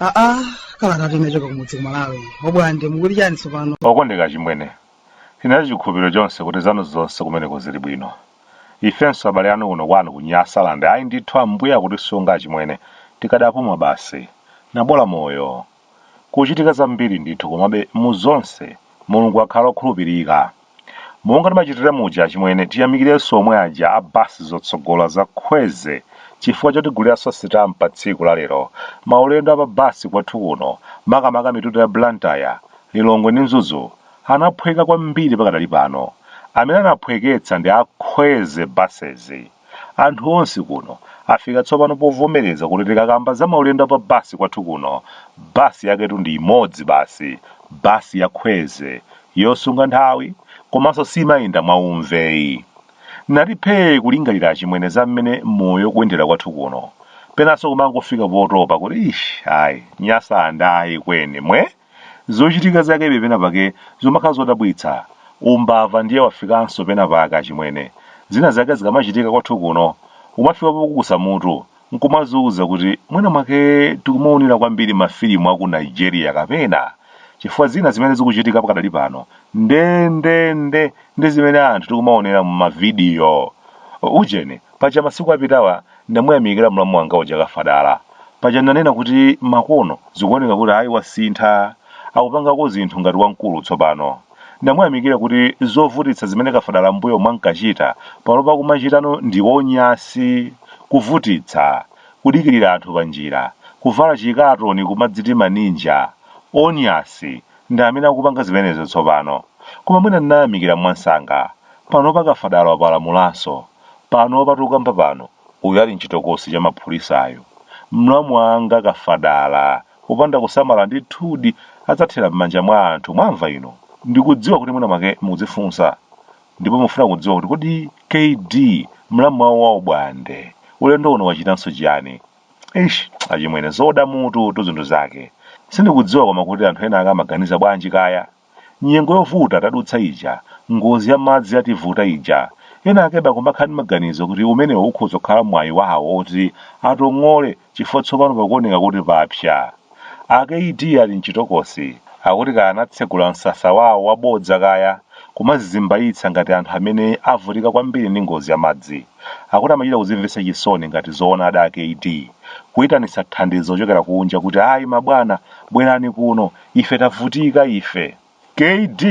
aa kalata tinachoka kumudzi ku malawi Obwande mukuti chani tsopano okondeka chimwene tinali ndi chikhulupiriro chonse kuti zanu zonse kumeneko zili bwino ifenso abale anu kuno kwanu ku nyasaland ayi ndithu ambuye akutisunga achimwene tikadapuma basi nabola moyo kuchitika zambiri ndithu komabe mu zonse Mulungu wakhala okhulupirika. Monga timachitira muja achimwene tiyamikirenso omwe aja a bus zotsogola za Khweze chifukwa chotiguliranso sitampa tsiku la lero. Maulendo a pa bus kwathu kuno makamaka mitunda ya Blantyre, Lilongwe ndi Mzuzu anaphweka kwambiri pakadali pano. Amene anaphweketsa ndi a Khweze buses. Anthu onse kuno afika tsopano povomereza kuti tikakamba za maulendo a pa bus kwathu kuno, bus yaketu ndi imodzi basi, bus ya khweze, yosunga nthawi komanso simayenda mwa umveyi. Ndati phee kulingalira achimwene za mmene moyo ukuyendera kwathu kuno. Penanso kumangofika potopa kuti ish ayi, Nyasaland ayi kweni, mwe? Zochitika zakebe penapake zomakhala zodabwitsa. Umbava ndiye wafikanso penapake achimwene. Zina zake zikamachitika kwathu kuno, umafika popukusa mutu n'kumaziuza kuti mwina mwake tikumaonera kwambiri mafilimu a ku Nigeria kapena chifukwa zina zimene zikuchitika pakadali pano ndendende ndi zimene anthu tikumaonera m'mavidiyo. Ujeni, paja masiku apitawa ndinamuyamikira mlamu wanga uja Kafadala. Paja ndinanena kuti makono zikuoneka kuti ayi wasintha, akupangako zinthu ngati wamkulu tsopano. Ndinamuyamikira kuti zovutitsa zimene Kafadala m'mbuyomu ankachita panopa akumachitano ndi onyasi, kuvutitsa, kudikirira anthu panjira, kuvala chikatoni kumadziti maninja, onyasi, Ndi amene akupanga zimenezo tsopano. Koma mwina ndinayamikira mwamsanga. Panopa Kafadala wapalamulanso. Panopa tikukamba pano, uyu ali m'chitokosi cha mapulisa uyu. Mlamu wanga kafadala, kupanda kusamala ndithudi adzathera m'manja mwa anthu, mwamva inu? Ndikudziwa kuti mwina mwake mukudzifunsa ndipo mufuna kudziwa kuti kodi kd mlamu wawo wa Obwande ulendo uno wachitanso chiyani? Eish achimwene zoda mututu zinthu zake. Sindikudziwa koma kuti anthu ena ake amaganiza bwanji kaya. Nyengo yovuta tadutsa ija, ngozi ya madzi yativuta ija, ena akebe akumakhala ndi maganizo kuti umenewo ukhoza kukhala mwayi wawo woti atong'ole chifukwa tsopano pakuoneka kuti papsa. A KD ali mchitokosi, akuti kaya anatsegula msasa wawo wa bodza kaya, kumazizimbayitsa ngati anthu amene avutika kwambiri ndi ngozi ya madzi. Akuti amachita kuzimvetsa chisoni ngati zoona ada a KD, kuyitanitsa thandizo kuchokera kunja kuti ayi mabwana, bwerani kuno, ife tavutika ife. Kd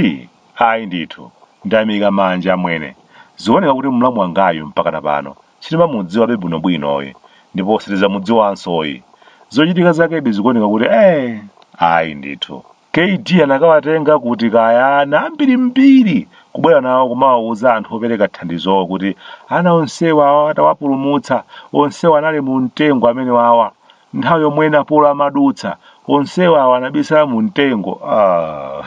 ayi ndithu ndayimika manja amwene zioneka kuti mlamu wangayu mpakana pano sitimamudziwabe bwino bwinoyi ndipo sitizamudziwansoyi zochitika zakedi zikuoneka kuti eeh ayi ndithu kd anakawatenga kuti kaya ana ambiri mbiri kubwera nawo kumawauza anthu opereka thandizowo kuti ana onsewawa tawapulumutsa onsewa anali mumtengo amenewawa nthawi yomwe napolo amadutsa onsewawa anabisala mu mtengo ah.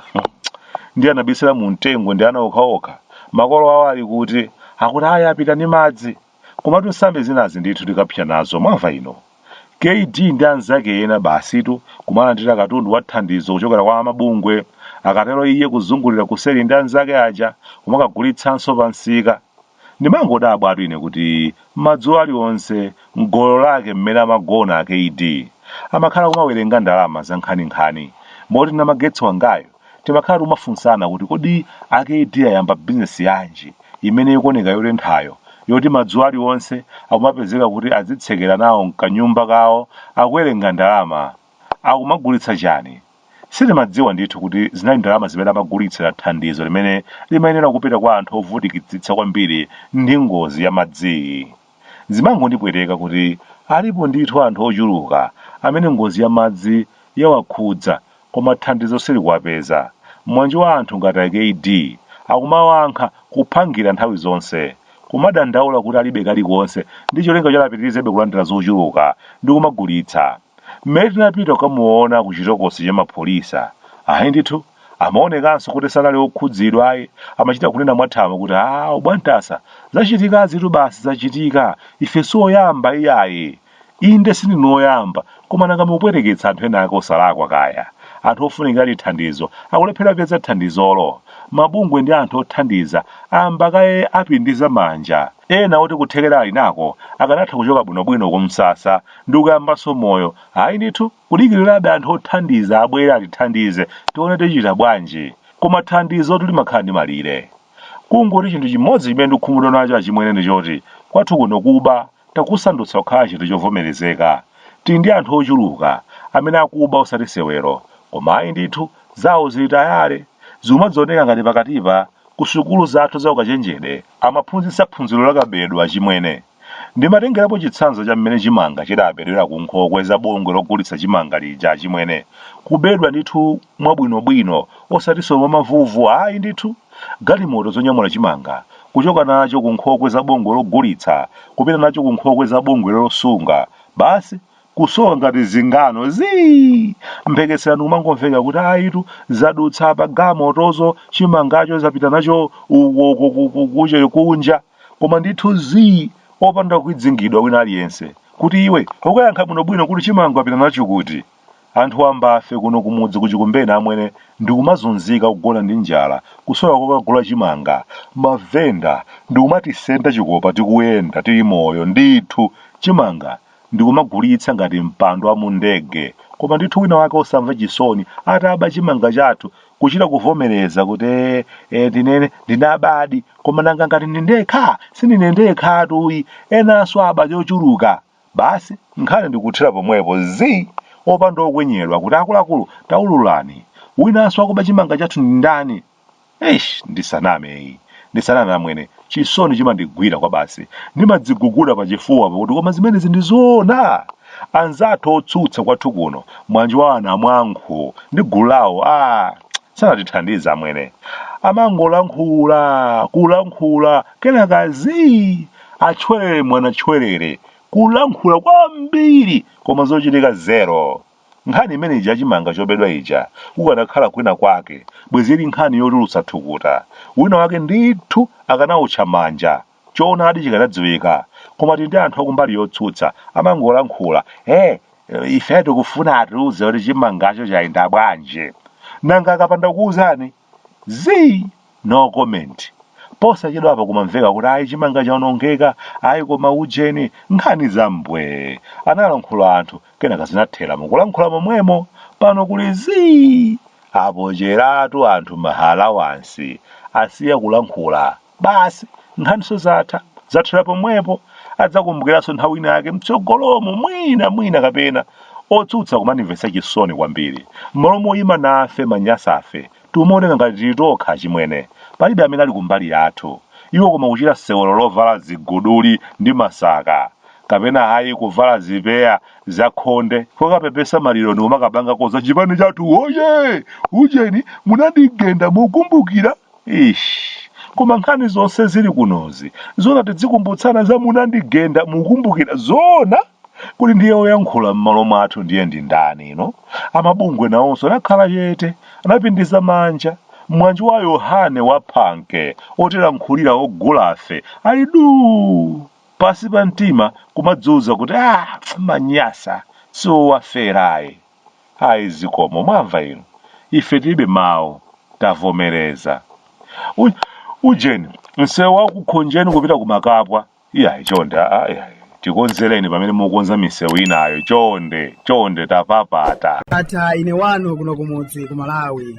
ndi anabisala mu mtengo ndi ana okhaokha makolo awo ali kuti akuti ayi apita ndi madzi komatu nsambi zinazi ndithu tikapsa nazo mwamva inu kd ndi anzake ena basitu kumalandira katundu wa thandizo kuchokera kwa amabungwe akatero iye kuzungulira kuseri ndi anzake aja kumakagulitsanso pa msika Ndimangodabwatu ine kuti madzulo alionse mgolo lake mmene amagona a KD amakhala akumawerenga ndalama zankhaninkhani moti namagetsi wangayu timakhala tikumafunsana kuti kodi a KD ayamba bizinesi yanji imene ikuoneka yotenthayo yoti madzulo alionse akumapezeka kuti adzitsekera nawo mkanyumba kawo akuwerenga ndalama akumagulitsa chani? Sitimadziwa ndithu kuti zinali ndalama zimene amagulitsira thandizo limene limayenera kupita kwa anthu ovutikitsitsa kwambiri ndi ngozi ya madziyi. Zimangondipweteka kuti alipo ndithu anthu ochuluka amene ngozi ya madzi yawakhudza koma thandizo silikuwapeza. Mwanji wa anthu ngati a KD akumawankha kuphangira nthawi zonse, kumadandaula kuti alibe kalikonse ndi cholinga choti apitirizebe kulandira zochuluka ndi kumagulitsa. Mmene tinapita kukamuona ku chitokosi cha mapholisa, ayi ndithu, amaonekanso kuti sanali okhudzidwa ayi, amachita kunena mwathamo kuti, a, Obwantasa, zachitikazitu basi zachitika, ife si oyamba iyayi. Inde sindinu oyamba, koma nanga mukupweteketsa anthu enaake osalakwa kaya? Anthu ofunikiradi thandizo akulephera kupeza thandizolo. Mabungwe ndi anthu othandiza ayamba kaye apindiza manja. Ena oti kuthekera ali nako akanatha kuchoka bwinobwino kumsasa ndikuyambanso moyo. Ayi ndithu, kudikirirabe anthu othandiza abwere atithandize, tione tichita bwanji. Koma thandizotu limakhala ndi malire. Kungoti chinthu chimodzi chimene ndikukhumudwa nacho achimwene ndi choti, kwathu kuno kuba takusandutsa kukhala chinthu chovomerezeka. Tili ndi anthu ochuluka amene akuba osati sewero. Koma ayi ndithu, zawo zili tayale. Zikumadzioneka ngati pakatipa, kusukulu zathu zaukachenjede, amaphunzitsa phunziro la kabedwe achimwene. Ndimatengerapo chitsanzo cha mmene chimanga chidabedwera ku nkhokwe za bungwe logulitsa chimanga lija achimwene. Kubedwa ndithu mwabwinobwino osatiso mwa mavuvu ayi ndithu. Galimoto zonyamula chimanga kuchoka nacho ku nkhokwe za bungwe logulitsa kupita nacho ku nkhokwe za bungwe losunga basi kusowa ngati zingano zii! Mphekesera ndikumangomveka kuti ayitu zadutsa apa galimotozo chimangacho zapita nacho uko uko kuche kunja. Koma ndithu zii opanda kufidzingidwa wina aliyense kuti iwe ukayankha bwino bwino kuti chimanga apita nacho kuti? Anthu ambafe kuno kumudzi ku Chikumbeni amwene ndikumazunzika kugona ndi njala kusowa kokagula chimanga mavenda ndikumatisenda chikopa tikuyenda tili moyo ndithu chimanga ndikumagulitsa ngati mpando wa mu ndege koma ndithu wina wake osamva chisoni ataba chimanga chathu kuchita kuvomereza kuti eh, eh, ndinene ndinabadi koma nanga ngati ndi ndekha sindine ndekhatu ayi enanso aba chochuluka basi nkhani ndikuthera pomwepo zi opanda okwenyedwa kuti akuluakulu taululani winanso wakuba chimanga chathu ndi ndani eish ndisaname ayi ndisaname amwene Chisoni chimandigwira kwabasi. Ndimadziguguda pachifuwa pakuti koma zimenezi ndi zoona? Anzathu otsutsa kwathu kuno, mwanje wa anamwankhu ndi gulu lawo, ah, sanatithandiza amwene. Amangolankhula, kulankhula, kenaka zii, atchwerere mwana tchwerere. Kulankhula kwambiri koma zochitika zero. Nkhani imene ija ya chimanga chobedwa ija kukanakhala kwina kwake bwezi ili nkhani yotulutsa thukuta. Wina wake ndithu akanawutcha manja choonadi chikanadziwika. Koma tili ndi anthu akumbali yotsutsa amangolankhula eh ife tikufuna atiuze kuti chimangacho chayenda bwanji. Nanga akapanda kuwuzani? zii no comment posachedwa apa kumamveka kuti ayi chimanga chaonongeka ayi koma ujeni nkhani zambwee analankhula anthu kenaka zinathera mukulankhula momwemo pano kuli zii apocheratu anthu ma allowance asiya kulankhula Basi, nkhaninso zatha, zathera pomwepo. Adzakumbukiranso nthawi ina yake m'tsogolomo, mwina, mwina kapena. Otsutsa kumanimvetsa chisoni kwambiri. M'malo moima nafe amanyasafe, tikumaoneka ngati tili tokha achimwene. Palibe amene ali kumbali yathu. Iwo koma kuchita sewero lovala ziguduli ndi masaka. Kapena ayi kuvala zipeya zakhonde, kukapepesa maliro ndikumakapangako za Chipani chathu woyee! Ujeni, munandigenda mukukumbukira? Eish koma nkhani zonse zili kunozi zoona tidzikumbutsana za munandigenda mukumbukira zoona kuti ndiye oyankhula m'malo mwathu ndiye ndi ndani ino a mabungwe nawonso anakhala chete anapindiza manja mwanjo wa yohane wa phanke otilankhulira ogulafe ali duu pansi pa mtima kumadziwuza kuti ah manyasa siowaferayi Ayi zikomo, mwamva inu, ife tilibe mawu, tavomereza. U, ujeni, msewu wa ku Khonjeni kupita ku Makapwa, iyayi, chonde, a, a, iyayi, tikonzereni pamene mukonza misewu inayo, chonde, chonde, tapapata. Bata, ine wanu kuno kumudzi ku Malawi.